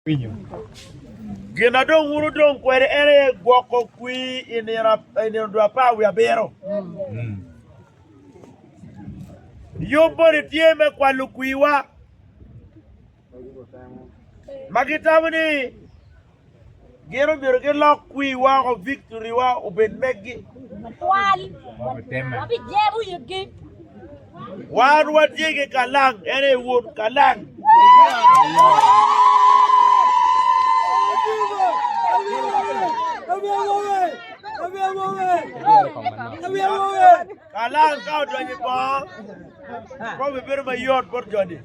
winyo. Gin ma dong wun wudong kwede en aye gwoko kwir i nino i nino dwe apar wiye abiro. Yub moni tye me kwalo kwirwa ma gitamo ni gin omyero gilok kwirwa oko victory-wa obed meggi. Twal, wabijemo yitgi. Wan watye ki kalang, en aye Wod kalang. Kalang ka odonyo i bongo, kop ebedo mayot bot joni.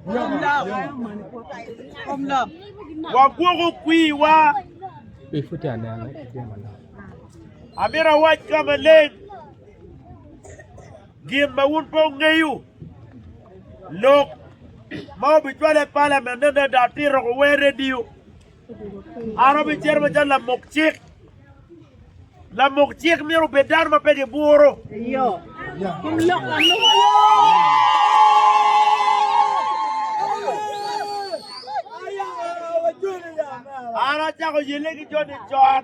Wagwoko kwiwa. Amito awac ka maleng Gin ma wun pe wungeyo, lok ma wubicwale i palament ne nende atito ku wer redio. An abicito macalo lamok cik. Lamok cik myero obed dano ma pe giburo. An acako yele ki Johnny John.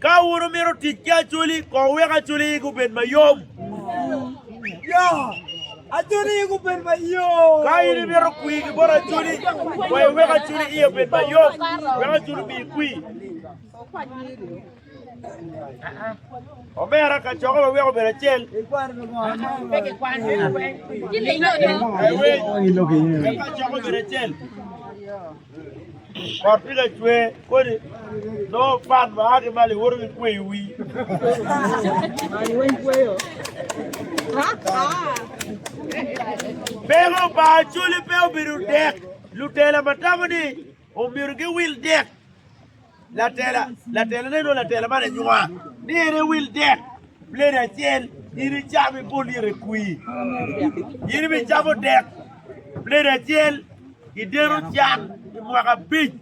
Ka wun wumito tic ki acholi, kong wek acholi yigi obed mayom. Ya, acholi yigi obed mayom. Ka in imito kwi ki bot acholi, kong iwek acholi iye obed mayom, wek acholi omiyi kwi. Omera, kacokwa wa wek obed acel. Kacokwa obed acel. Kot pi lacwe kodi nongo pat ma a ki malo iwoto ki kweyo wi. Beko pa Acholi pe obedo dek, lutela ma tamo ni omyero giwil dek. Latela, Latela ne nongo latela man anywa ni en ewil dek plate acel in icam ibol lyeto i kwii. In bi camo dek plate acel i deno can i mwaka abic.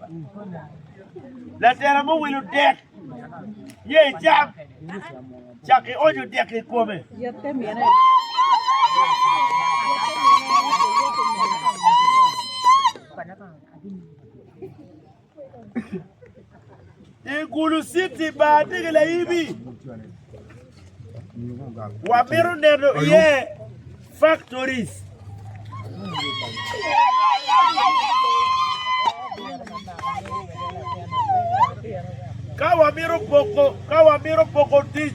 Latela muwilo dek ye icam cak ki onyo dek i kome. I Gulu City bar tye ki laibi. Wamito neno iye factories. Ka wamito poko, ka wamito poko tic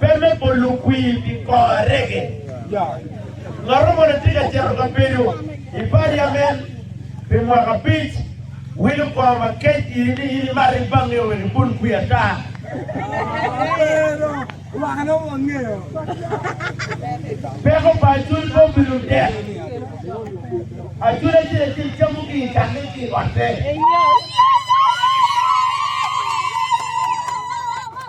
Pe me bolo kwir pi kor arege. Ngat mo ni tye ka cito ka bedo i paliamen pi mwaka abic, wilo kor ma kec iri ni in imarri bange wek ibol kwir ata. Peko pa Acuny Bob pi ludek. Acuny acel acel camo gin i tange ki i otte.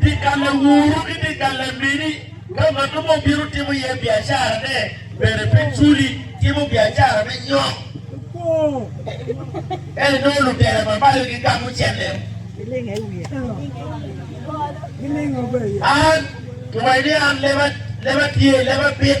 Dye galle Wuru ki dye galle Mini, ka ngat mo obino timo iye biacarane, bene pe culi, timo biacara me nyok. Ento nongo lutere ma malo gigamo cente. An, kiwaco ni an leba, leba tye, leba bit.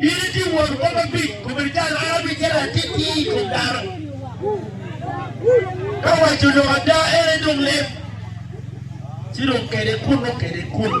In itye won kom abic, kobedo calo an abic calo atitye i kom dano. Ka waco lok ada en aye dong lem, ci dong kede kunnu kede kunnu.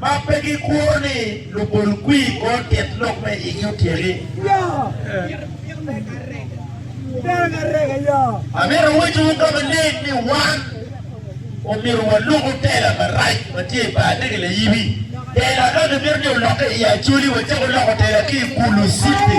ma pe gikuro ni lubol kwir kor tit lok me igi otyeki. Amito wacciwu ka maleng ni wan omyero waluku tela marac ma tye i bar nege layibi. Tela ka kimito ni olokke i Acholi, wacako loko tela ki i Kulu city.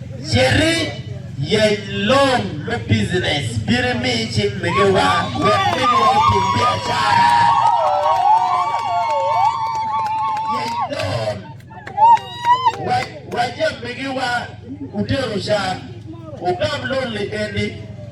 Citi yeny lon me bijinec bino imi i cik megiwa wek gilwor tim biacara. Yeny lon wa wa jam megiwa utero can. Wugam lon-ni eni.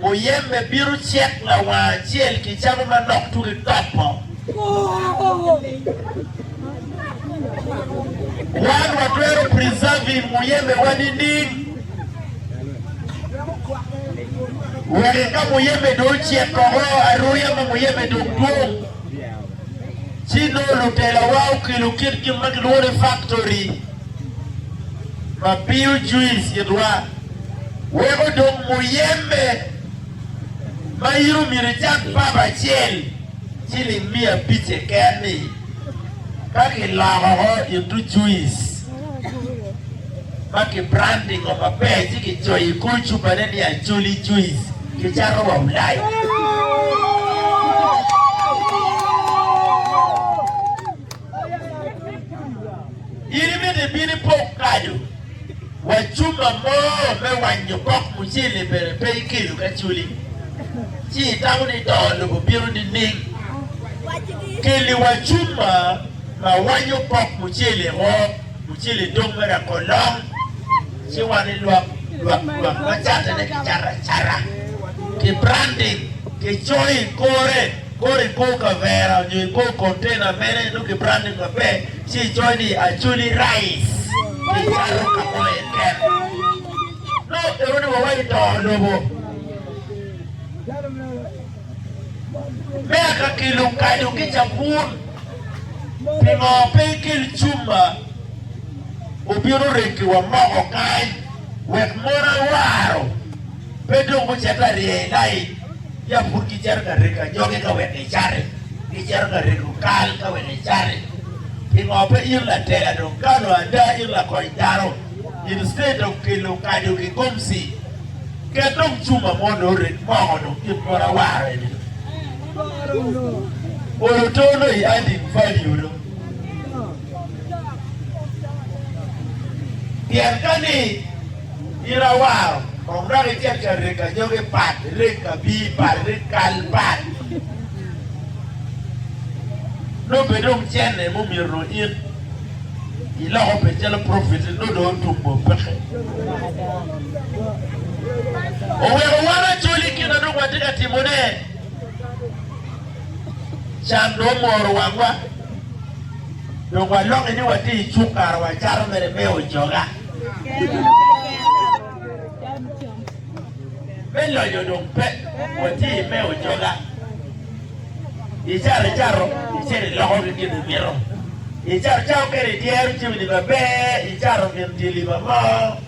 Muyeme bino cek lawang acel ki camo manok tuku i topo. Wan watwero preserving muyemewa nining? Wek ka muyeme dong ocek koko aruya ma muyeme dong dwong, ci nongo lutelawa okelo kit gin ma kilwongo ni factory. ma biyo juice i dwal weko dong muyembe ma in omyero icak pap acel ciling miya abic keken ni ka kiloko ko into juice ma ki branding o maber ci ki coyo i kor cupa ne ni Acholi juice ki cato wa Ulaya. In imito ibin ipok kado wa cuma mo me wanyo kok mucele bene pe ikelo ka culi ci itamo ni to lobo bino nining? Keli wa cuma ma wanyo kok mucele o mucele dong mere akolong ci wan ilwak lwak lwak macatane ki cara cara ki branding ki coyo i kore Kor i kor kavera nyo i kor kontena mere nongo kibranded maber ci icoyo ni Acholi Rice ki cato ka mo iye kene. Nongo i odi wa wai toro lobo. Meya ka kilo kado ki cabun pingo pe ikel cumba obino regi wa moko kany wek mon awaro. Pe dong gucito arye i layi, ya pud gicito ka rego anyogi ka wek gicati, gicito ka rego kal ka wek gicati. Pingo pe in lateya dong kalo ada, in lakony dano? In cte dong kelo okaco ki gomci, ket dong cuma mo nongo ored moko dong kit bot awara eni. Olo too nongo i adding value nongo. Pien ka ni In awaro kong dok icek ca reg anyogi pat, ireg kabii pat, ireg kal pat. Nongo pe dong cene mumyero nongo in iloko pe calo profit ni nongo dong otum bot peke. Oweko wan acol i kina dong watye ka timone. Can dong omoro wangwa. Dong waloki ni watye i cuk kara wacato mere me ojoga. Me lonyo dong pe watye me ojoga i caro icato icito iloko ki gin imito i caro cato kene idyero cimi ni maber i caro gin dye liba mo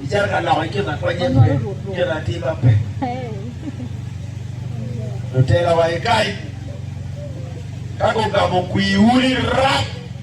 i caro ka loko i kina konye pe kina tima pe lutelawa ikai ka gugamo kwi uli rap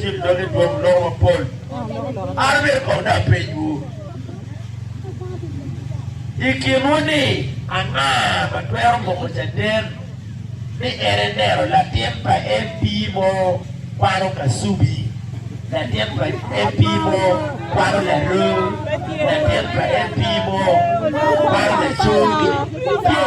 Tim dog i dwom lok mapol. An myero kong dong apenyiwu i kinwu ni anga ma twero moko caden ni en enero latin pa MP mo kwano kasubi, latin pa MP mo kwano laroo, latin pa MP mo kwano lacogi? Tye.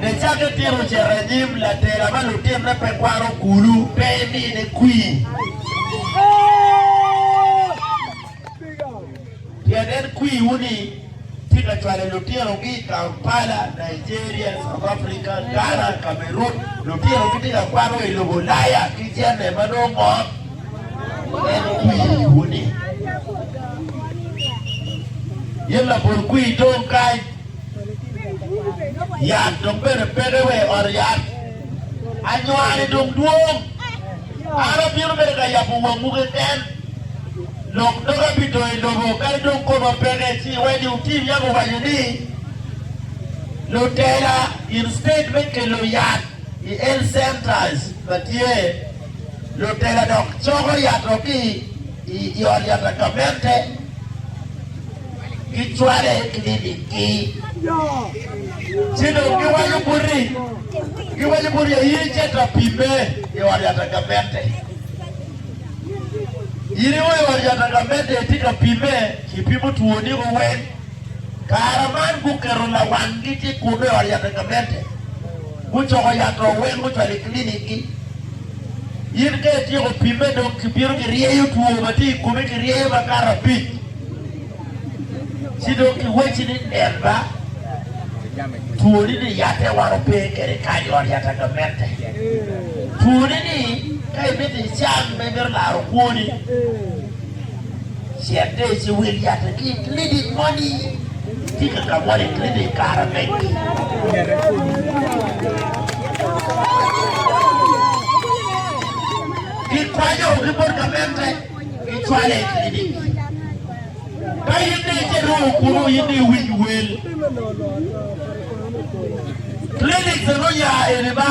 Nicaka itino cito i nyim latela ma lutinne pe kwano kulu, pe imine kwir. Pien en kwiwu-ni tye ka cwalo lutinogi i Kampala, Nigeria, South Africa, Ghana, Cameroon. Lutinogi tye ka kwano i lobo Ulaya ki jami ma nongo mot. en kwiwu ni. Gin labol kwir dong kany. Yat dong bene peke wa i ot yat. Anywani dong dwong. An abino mere ka yabo wangwu keken. Lok doga pi to i lobo kadi dong koma peke ci iwedi utim yam owaco ni lutela instead me kelo yat i health centers ma tye Lutela dok coko yat wa ki i ot yat wa gavette ki cwale i clinic ki ci dong gi waco buti gi waco buti ya in ice ta pime i ot yat wa gavette in i ot yat wa gavette i ti ka pime i pimo twoni ko weng Kare man guketo lawanggi ki kunu i ot yato gamente, gucoko yato weng gucwalo i kilinikgi. In ka ityeko pimme dong kibino kiryeyo two ma tye i komi kiryeyo makato abic ci dong kiwacci ni nen ba twoni ni yatte wano pe kede kany i ot yato gamente. Twoni ni ka imito icang ma imito laro kwoni. Certe ci wil yatte ki i klinik moni. Tika ka wol i klinik i kare megi? Kikwanyo ki bot gamente, kicwale i klinik. Ka in ni ite ruu kunu in ni iwiny wel. Klinik dong oya eni ba?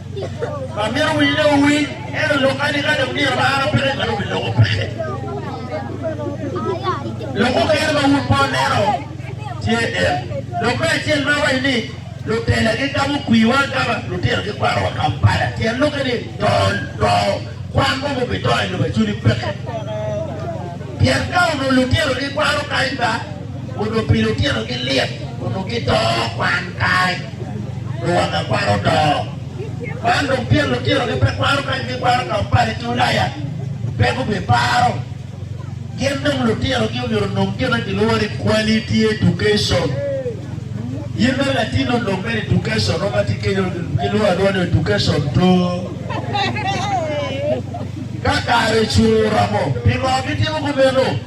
Amito wii ne owiny, ento lok kadi kadi omyero ba an opeke kadi obi loko peke. Lok mukene ma wun po neno tye en. Lok me acel ma waco ni lutela gigamo kwiwa agama, lutino gikwarowa Kampala. Tyen loke ni to to kwan mo mubi to i lobo acuni peke. Pien ka onu lutino gikwaro kany ba onu pi lutino gilyet onu gito kwan kany. Luwotna kwaro odoo. Man dong pien lutino gi pe kwaro kadi gi kwaro ka opale ki ulaya pe gu bi paro. Gin dong lutino gi omyero onong gin ma gilwongo ni quality education. In mere latin onong mere education mo ma ti kenyo gi lwongo alwonga ni education to. Ka kare ocung oromo, pingo gitimo kumeno?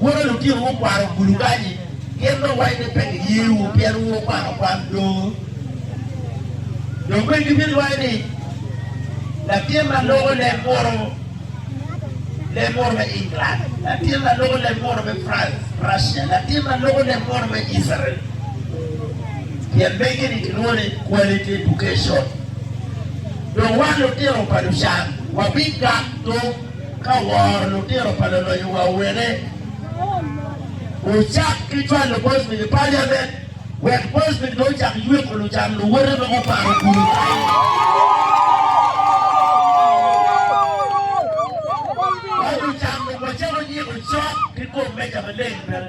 Woro lutino ma okwaro bulubanyi, pien dong wai ni pe giyewu pien wu wukwano kwan do. Dong bene gibidwai ni, Latin ma loko leb munu, leb munu me England, latin ma loko leb munu me France, Russia, latin ma loko leb munu me Israel. Pien mege-ni kilwongo ni quality education. Dong wan lutino pa Lucan wabigak tung. Ka woro lutino pa loloyo wa wene ocak ki cwalo Bosnic i Paliamen wek Bosnic dong ocak yweko lucan luwote ma guparo gudo kayo. Wa lucan dong wacako nyiko cok ki kom meja maleng bene.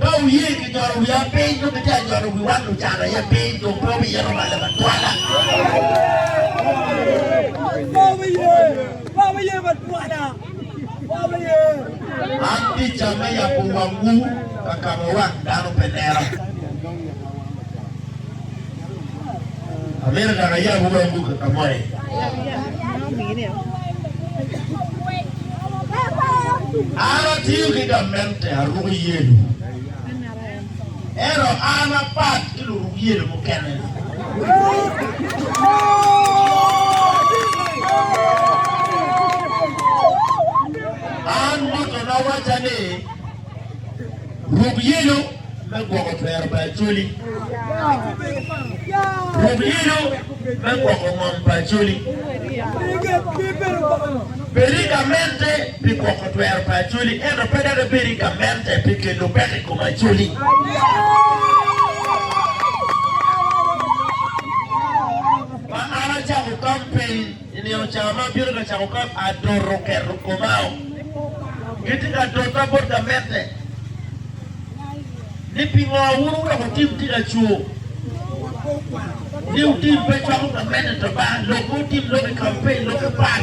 Ka wuye ki jolo wiya piny, nongo itye ka jolo wiwa lucan aye piny, dong pe wubiyero balla batwala. An tica me yabo wangwu ka ka ma wang dano pe neno. Amina dok ayabo weng ducu ka moye. An atiyo ki gamente, aruko yelo. Ento an apat ki luruk yelo mukene. An ducu nawacca ni, Ruk yelo. me gwoko twero pa Acholi. Rwok yelo me gwoko ngom pa Acholi. Bedo i gamente pi gwoko twero pa Acholi, ento pe dok ibedo i gamente pi kelo peko i kom Acholi. I nino ca ma abino ka cako kop, adot oketo komao. Gitye ka dota bot ka medde ni pingo wun wudoko tim tye ka cur ni wutim pe cwako ka medde to ba lok ma wutim lok i kampen lok i pak.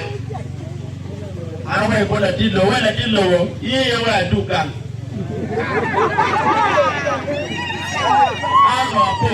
An wai bot ladit lobo, wai ladit lobo, iye iye wai adug gang. An apo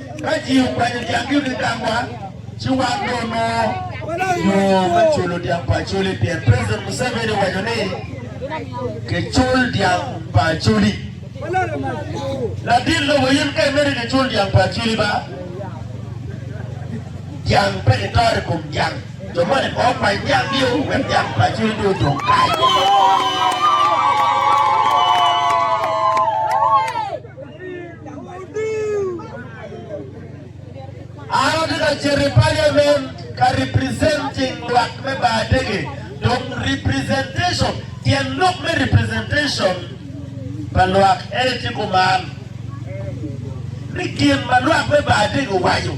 Ka ji okwanyo dyanggi me dangwa, ci wan dong onongo yo me culo dyang pa Acholi pien President Museveni owaco ni kicul dyang pa Acholi. Ladit lobo in ka imedo kicul dyang pa Acholi ba dyang pe kitoro i kom dyang. Jo moni pe okwany dyanggi o wek dyang pa Acholi dong odong kany. An atye ka cito i parliament ka representing lwak me Baadege dong representation tyen lok me representation pa lwak ene tye kuman ni gin ma lwak me Baadege owaco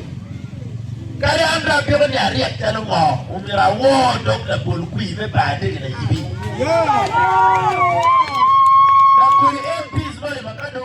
kadi an dong apiko ni aryek calo ngo omyero awor dong labol kwir me Baadege layibi.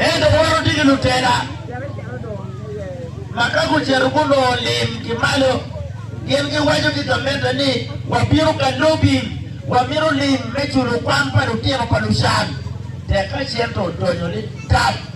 Ento woro tye ki lutela ma ka gucito gunongo lim ki malo, gin giwaco ki gamente ni, 'Wabino ka lobi, wamito lim me culo kwan pa lutino pa Lucan. Tek ka cente odonyo ni tap.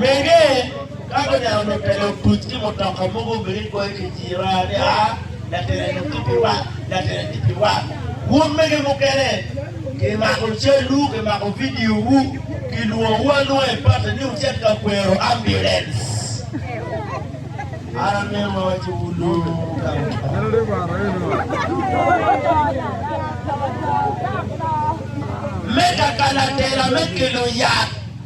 Mege ka guneno mutene otuc ki mutoka mogo obedo ni goyo kiciro ni, A, latin eni otye pi wat, latin eni tye pi wat. Wun mege mukene, kimako calwu, kimako vidiowu, kilwongowu alwonga i parti ni wucit ka kwero ambulance. An amito wawaciwu lung ka me ka kanatela me kelo yat.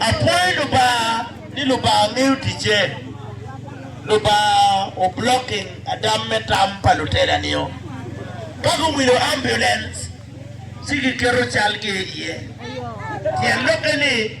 Akwayo Lubanga ni Lubanga ngeyo ticce. Lubanga o blocking adam me tam pa lutela nio. Ka guwilo ambulance ci giketo calgi iye. Tyen lokke ni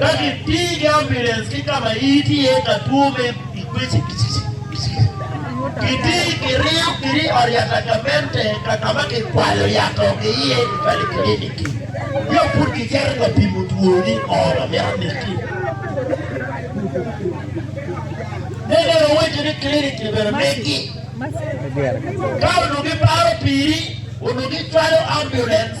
Ka kitii ki ambulance ki ka ma iti iye ka two me ikwici kicici kicici, kitii kiriyo kiri i ot yat agamente ka ka ma kikwalo yat o ki iye i Valley Clinic-ki nyo pud kicito ka pimo two ni o ma mito amiti. Me bene owaco ni clinic ni bene megi ka onongo giparo piri onongo gicwalo ambulance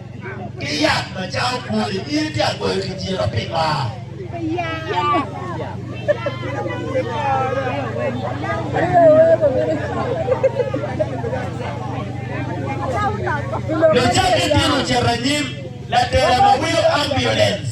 Ki yat macalo kwori myero tye agweyo ki tira pi mar. Lucaden tye lucito anyim, latela ma winyo ambulance.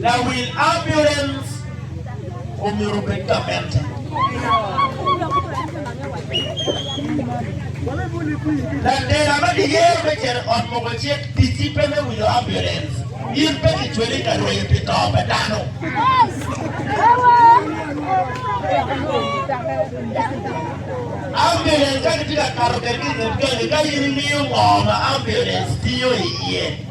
Lawil ambulance omyero obed ka mente. Latela ma giyero me cito ot moko cik ticci pe me winyo ambulance. In pe kicweli ka rweyo pi to pa dano. Ambulance ka gitye ka kato kwedgi i nget gangi ka in ingeyo ngo ma ambulance tiyo iye.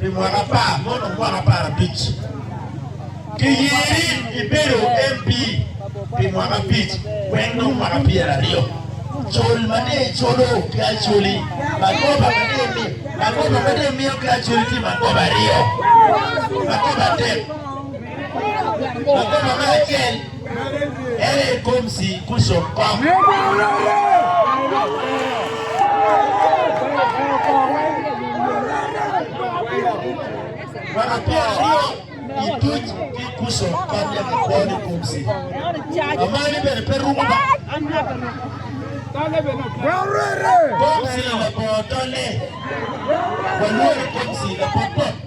pi mwaka apar mo nongo mwaka apar abic. Kiyeri ibedo MP pi mwaka abic wek nongo mwaka pyer aryo. Col ma dee icolo ki acoli, magoba ma dee mi, magoba ma dee imiyo ki acoli tye magoba aryo, magoba adek. Magoba me acel Ene i kom si kuco Namba pyera aryo i tuc ki kuco kop ya ki kwo ni kom si. Amani bene pe rumo ba. Kom si labongo tolle. Walwori kom si lapot pot.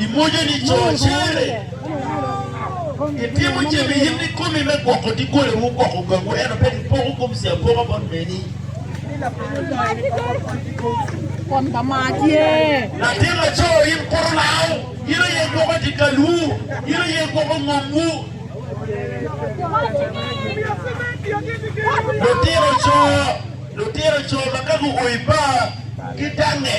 I mojoni co cere itimo jami i yim kikomi me gwoko doggolewu, gwoko gangwu, ento pe nipoko gomsi apoka bot meni. Latin laco, in kuru lau, in aye gwoko dikalwu, in aye gwoko ngomwu. Lutino co, lutino co ma ka guo i bar, gidangnge.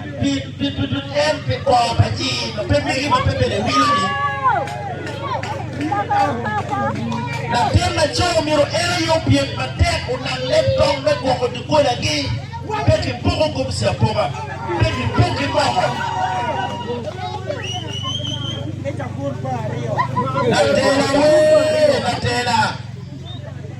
Pi tutu en pi kwo pa ci ma pe mege ma pe bene wilo ni latin laco myero en aye opyem matek onang leb tong me gwoko dogolagi. Pe kipoko gomci apoka, pe kipok ki moko. Latela wee, latela.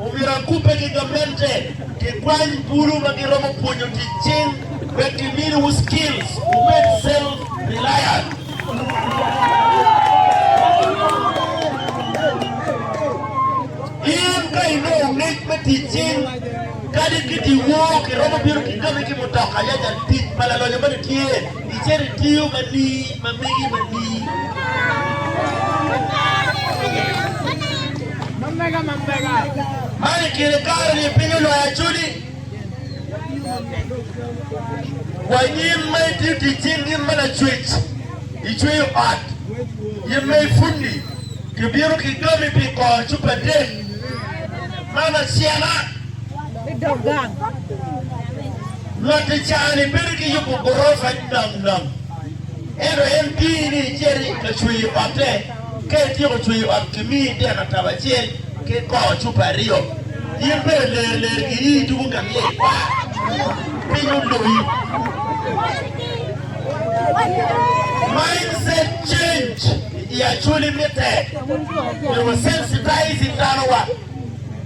Omyero akubbe ki gamente ki kwany bulu ma giromo pwonyo tic cing wek giminuwu skills wubed self reliant. In ka inongo ngec me tic cing kadi kiti woo, kiromo bino ki kami ki mutoka yac atit ma lalonyo moni tye. Icito itiyo manir ma megi manir. Man i kine kare ni piny olwar acudi. Wa nyim ma itiyo tic cing nyim ma lacwec, icweyo ot, nyim ma ifundi, kibino kidomi pi kor cupa adek. Man acela. i dog gang. Lwak i caa-ni bedo ki yubo gurofa nam nam. Ento en tingi ni icit i ka cweyo otte. Ka ityeko cweyo ot, kimiyi dek atabo acel ki koo cupa aryo. In bene ler ler giyi i tugo ka myel kwar. Piny oloyi. Mindset change i Acholi mitte. Myero wasensitize danowa.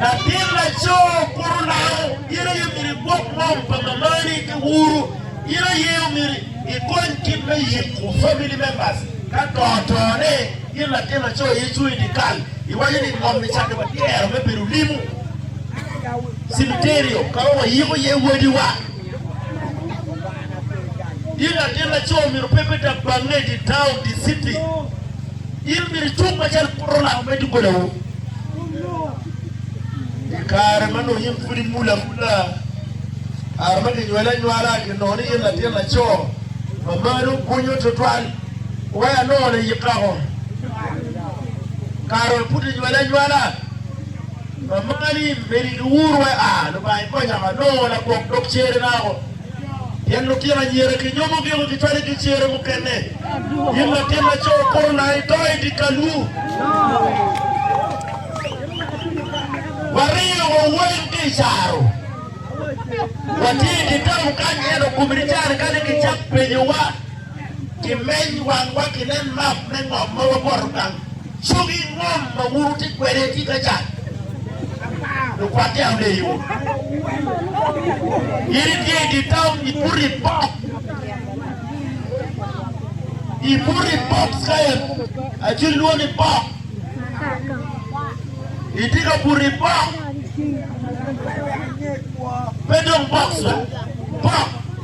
Latin laco kuro nano, in aye omyero igwok ngom pa mamani ki uru. In aye omyero ikony kit me yiko family members ka to otone. In latin laco aye icung i dikal iwaco ni ngom ni cati watyero me bedo limu cimiterio ka ma wayiko iye wadiwa. In latin laco omyero pe ibed dok bange di taun, di citi. In omyero icung macalo poto lak me dogolawu. I kare ma nongo in pud imul amula, kare ma kinywali anywala, kinongo ni in latin laco ma mari obunyo tutwal, waya nongo layik kako. Kare ma pud inywali anywala, Amani medo i Luur we a, Lubange konya ma anongo lagwok dog cere nako, pien lutino anyira kinyomo giko gitwale ki cere mukene. In latin laco kor ona i doi di kalwu. Wariyo wa weng ki i caro. Watye i kitabu kany ento kumi di cani kadi ki cak penyo wa, ki meny wang wa ki nen map me ngom ma waboto gang Cogi ngom ma wun wutye kwede tika ca, lukwatte ameyo? In itye i dye taun, ibuto i bok, ibuto i bok Cayan, aci lwon i bok, itye ka buto i bok, pe dong bok ca, bok.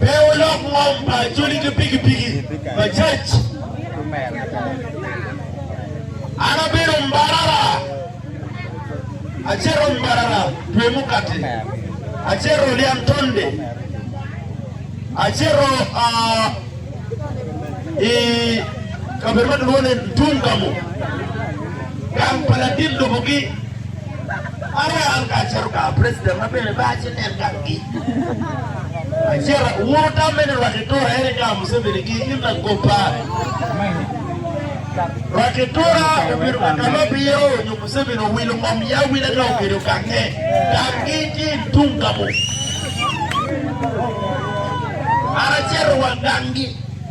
Pe wulok ngom pa codi ki pikipiki pa cac. An abedo mbarara, acito mbarara dwe mukati, acito lyang tonde, acito i kabedo ma kilwongo ni Ntungamo, gang pa latin lobogi. Mariam kacel ka president ma bene ba ci nen gang gi acel wuru tam mene rwaki tura ene ga museveni gi in la go pa rwaki tura obiro ka kama biyo nyo museveni owilo ngom ya wile ka okedo gange gang gi ki tung gamo ara cero wa gang gi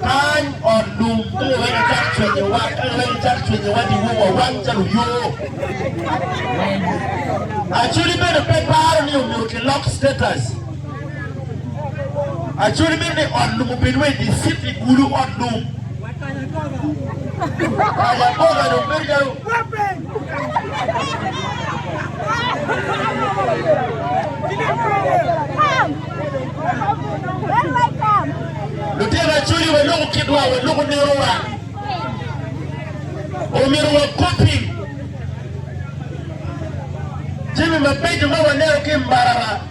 Kany ot lum nongo wene cak cwenyowa, en wene cak cwenyowa di wowa wang calo yo. Acoli bene pe paro ni omyero ki lock status. Acoli bene ni ot lum obed wa i di city bulu ot lum. Kanya koga dong bedo calo Lutino acoyo waloko kitwa, waloko nerowa. Omyero wakoppi jami mabeco ma waneno ki i marara.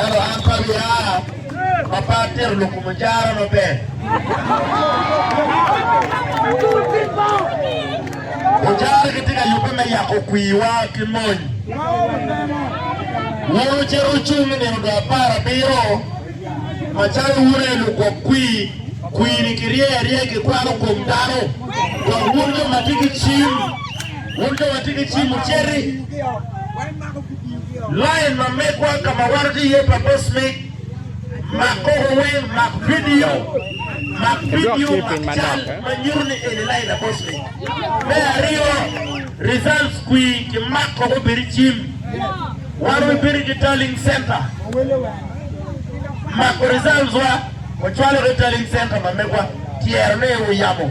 Ento an pe abia ma pe atito lok kom mucara maber. Mucara gitye ka yubbe me yako kwiwa ki mony. Wun wucito wucung i nino dwe apar abiro macalo wun aye lugwok kwi, kwini kiryeyo aryeya kikwano kom dano, dok wun jo ma tye ki cim Wun jo ma tye ki cim wuciti lain ma megwa ka ma waroto iye pa Boss Mick. Mak koko weng, mak vidio, mak vidio, mak cal ma nyuto ni eni lain pa Boss Mick. Me aryo, results kwi ki mak koko bedi i cim. Wan wabiti ki Tallying Centre mako results wa wacwalo ki Tallying Centre ma megwa tyero ni wuyabo.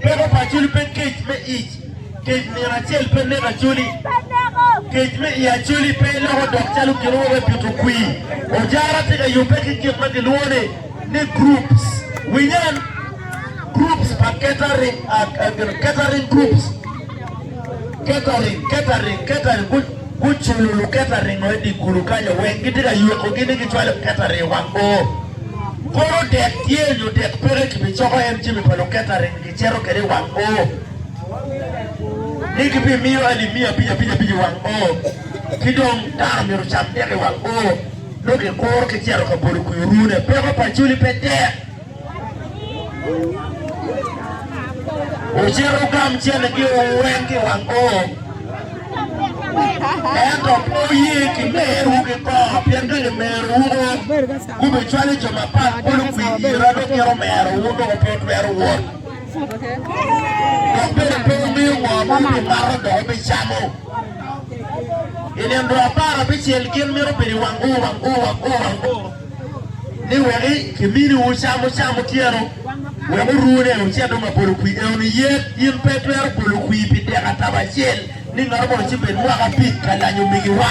Peko pa Acholi pe kec me ic, kec nino acel pe neko Acholi. Kec me i Acholi pe loko dok calo gin mogo me pito kwir. Ojara tye ka yubbe ki gin ma gilwongo ni ni groups. Winyan, groups pa catering, uh, uh, catering groups. Catering, catering, catering, gu, guculo luketering-o i dye kulu kanyo weng, gitye ka ywekogi ni gicwalo catering i wang bor. Koro dek tye nyo dek peke kibicoko en jami pa luketering gicito kwede i wang bor. Ni gibimiyo alip miya abic abic abic i wang bor, ki dong dano myero ocam dek i wang bor, nongo kikuro kicito ka bolo kwio rune. Peko pa Juli pe tek. Wucit wugam cente giwu weng ki wang kom, ento pe wuye ki merowu ki kor, pien ka limerowu gubicwalo jo mapat bolo kwir ira, dong mito merowu dong pe wutwero wot. Dok bene pe wumiyo ngo ma wubimato dok wubicamo. I nino dwe apar abicel gin mito bedo i wang ur, wang ur, wang ur, wang ur. ni wek kimini wu cam wucam otyeno wek wuru ne wucit dong abolo kwir eo ni yet in pe itwero bolo kwir pi dek atabo acel ni ngato mono ci bed mwaka abic ka lanyo migi wa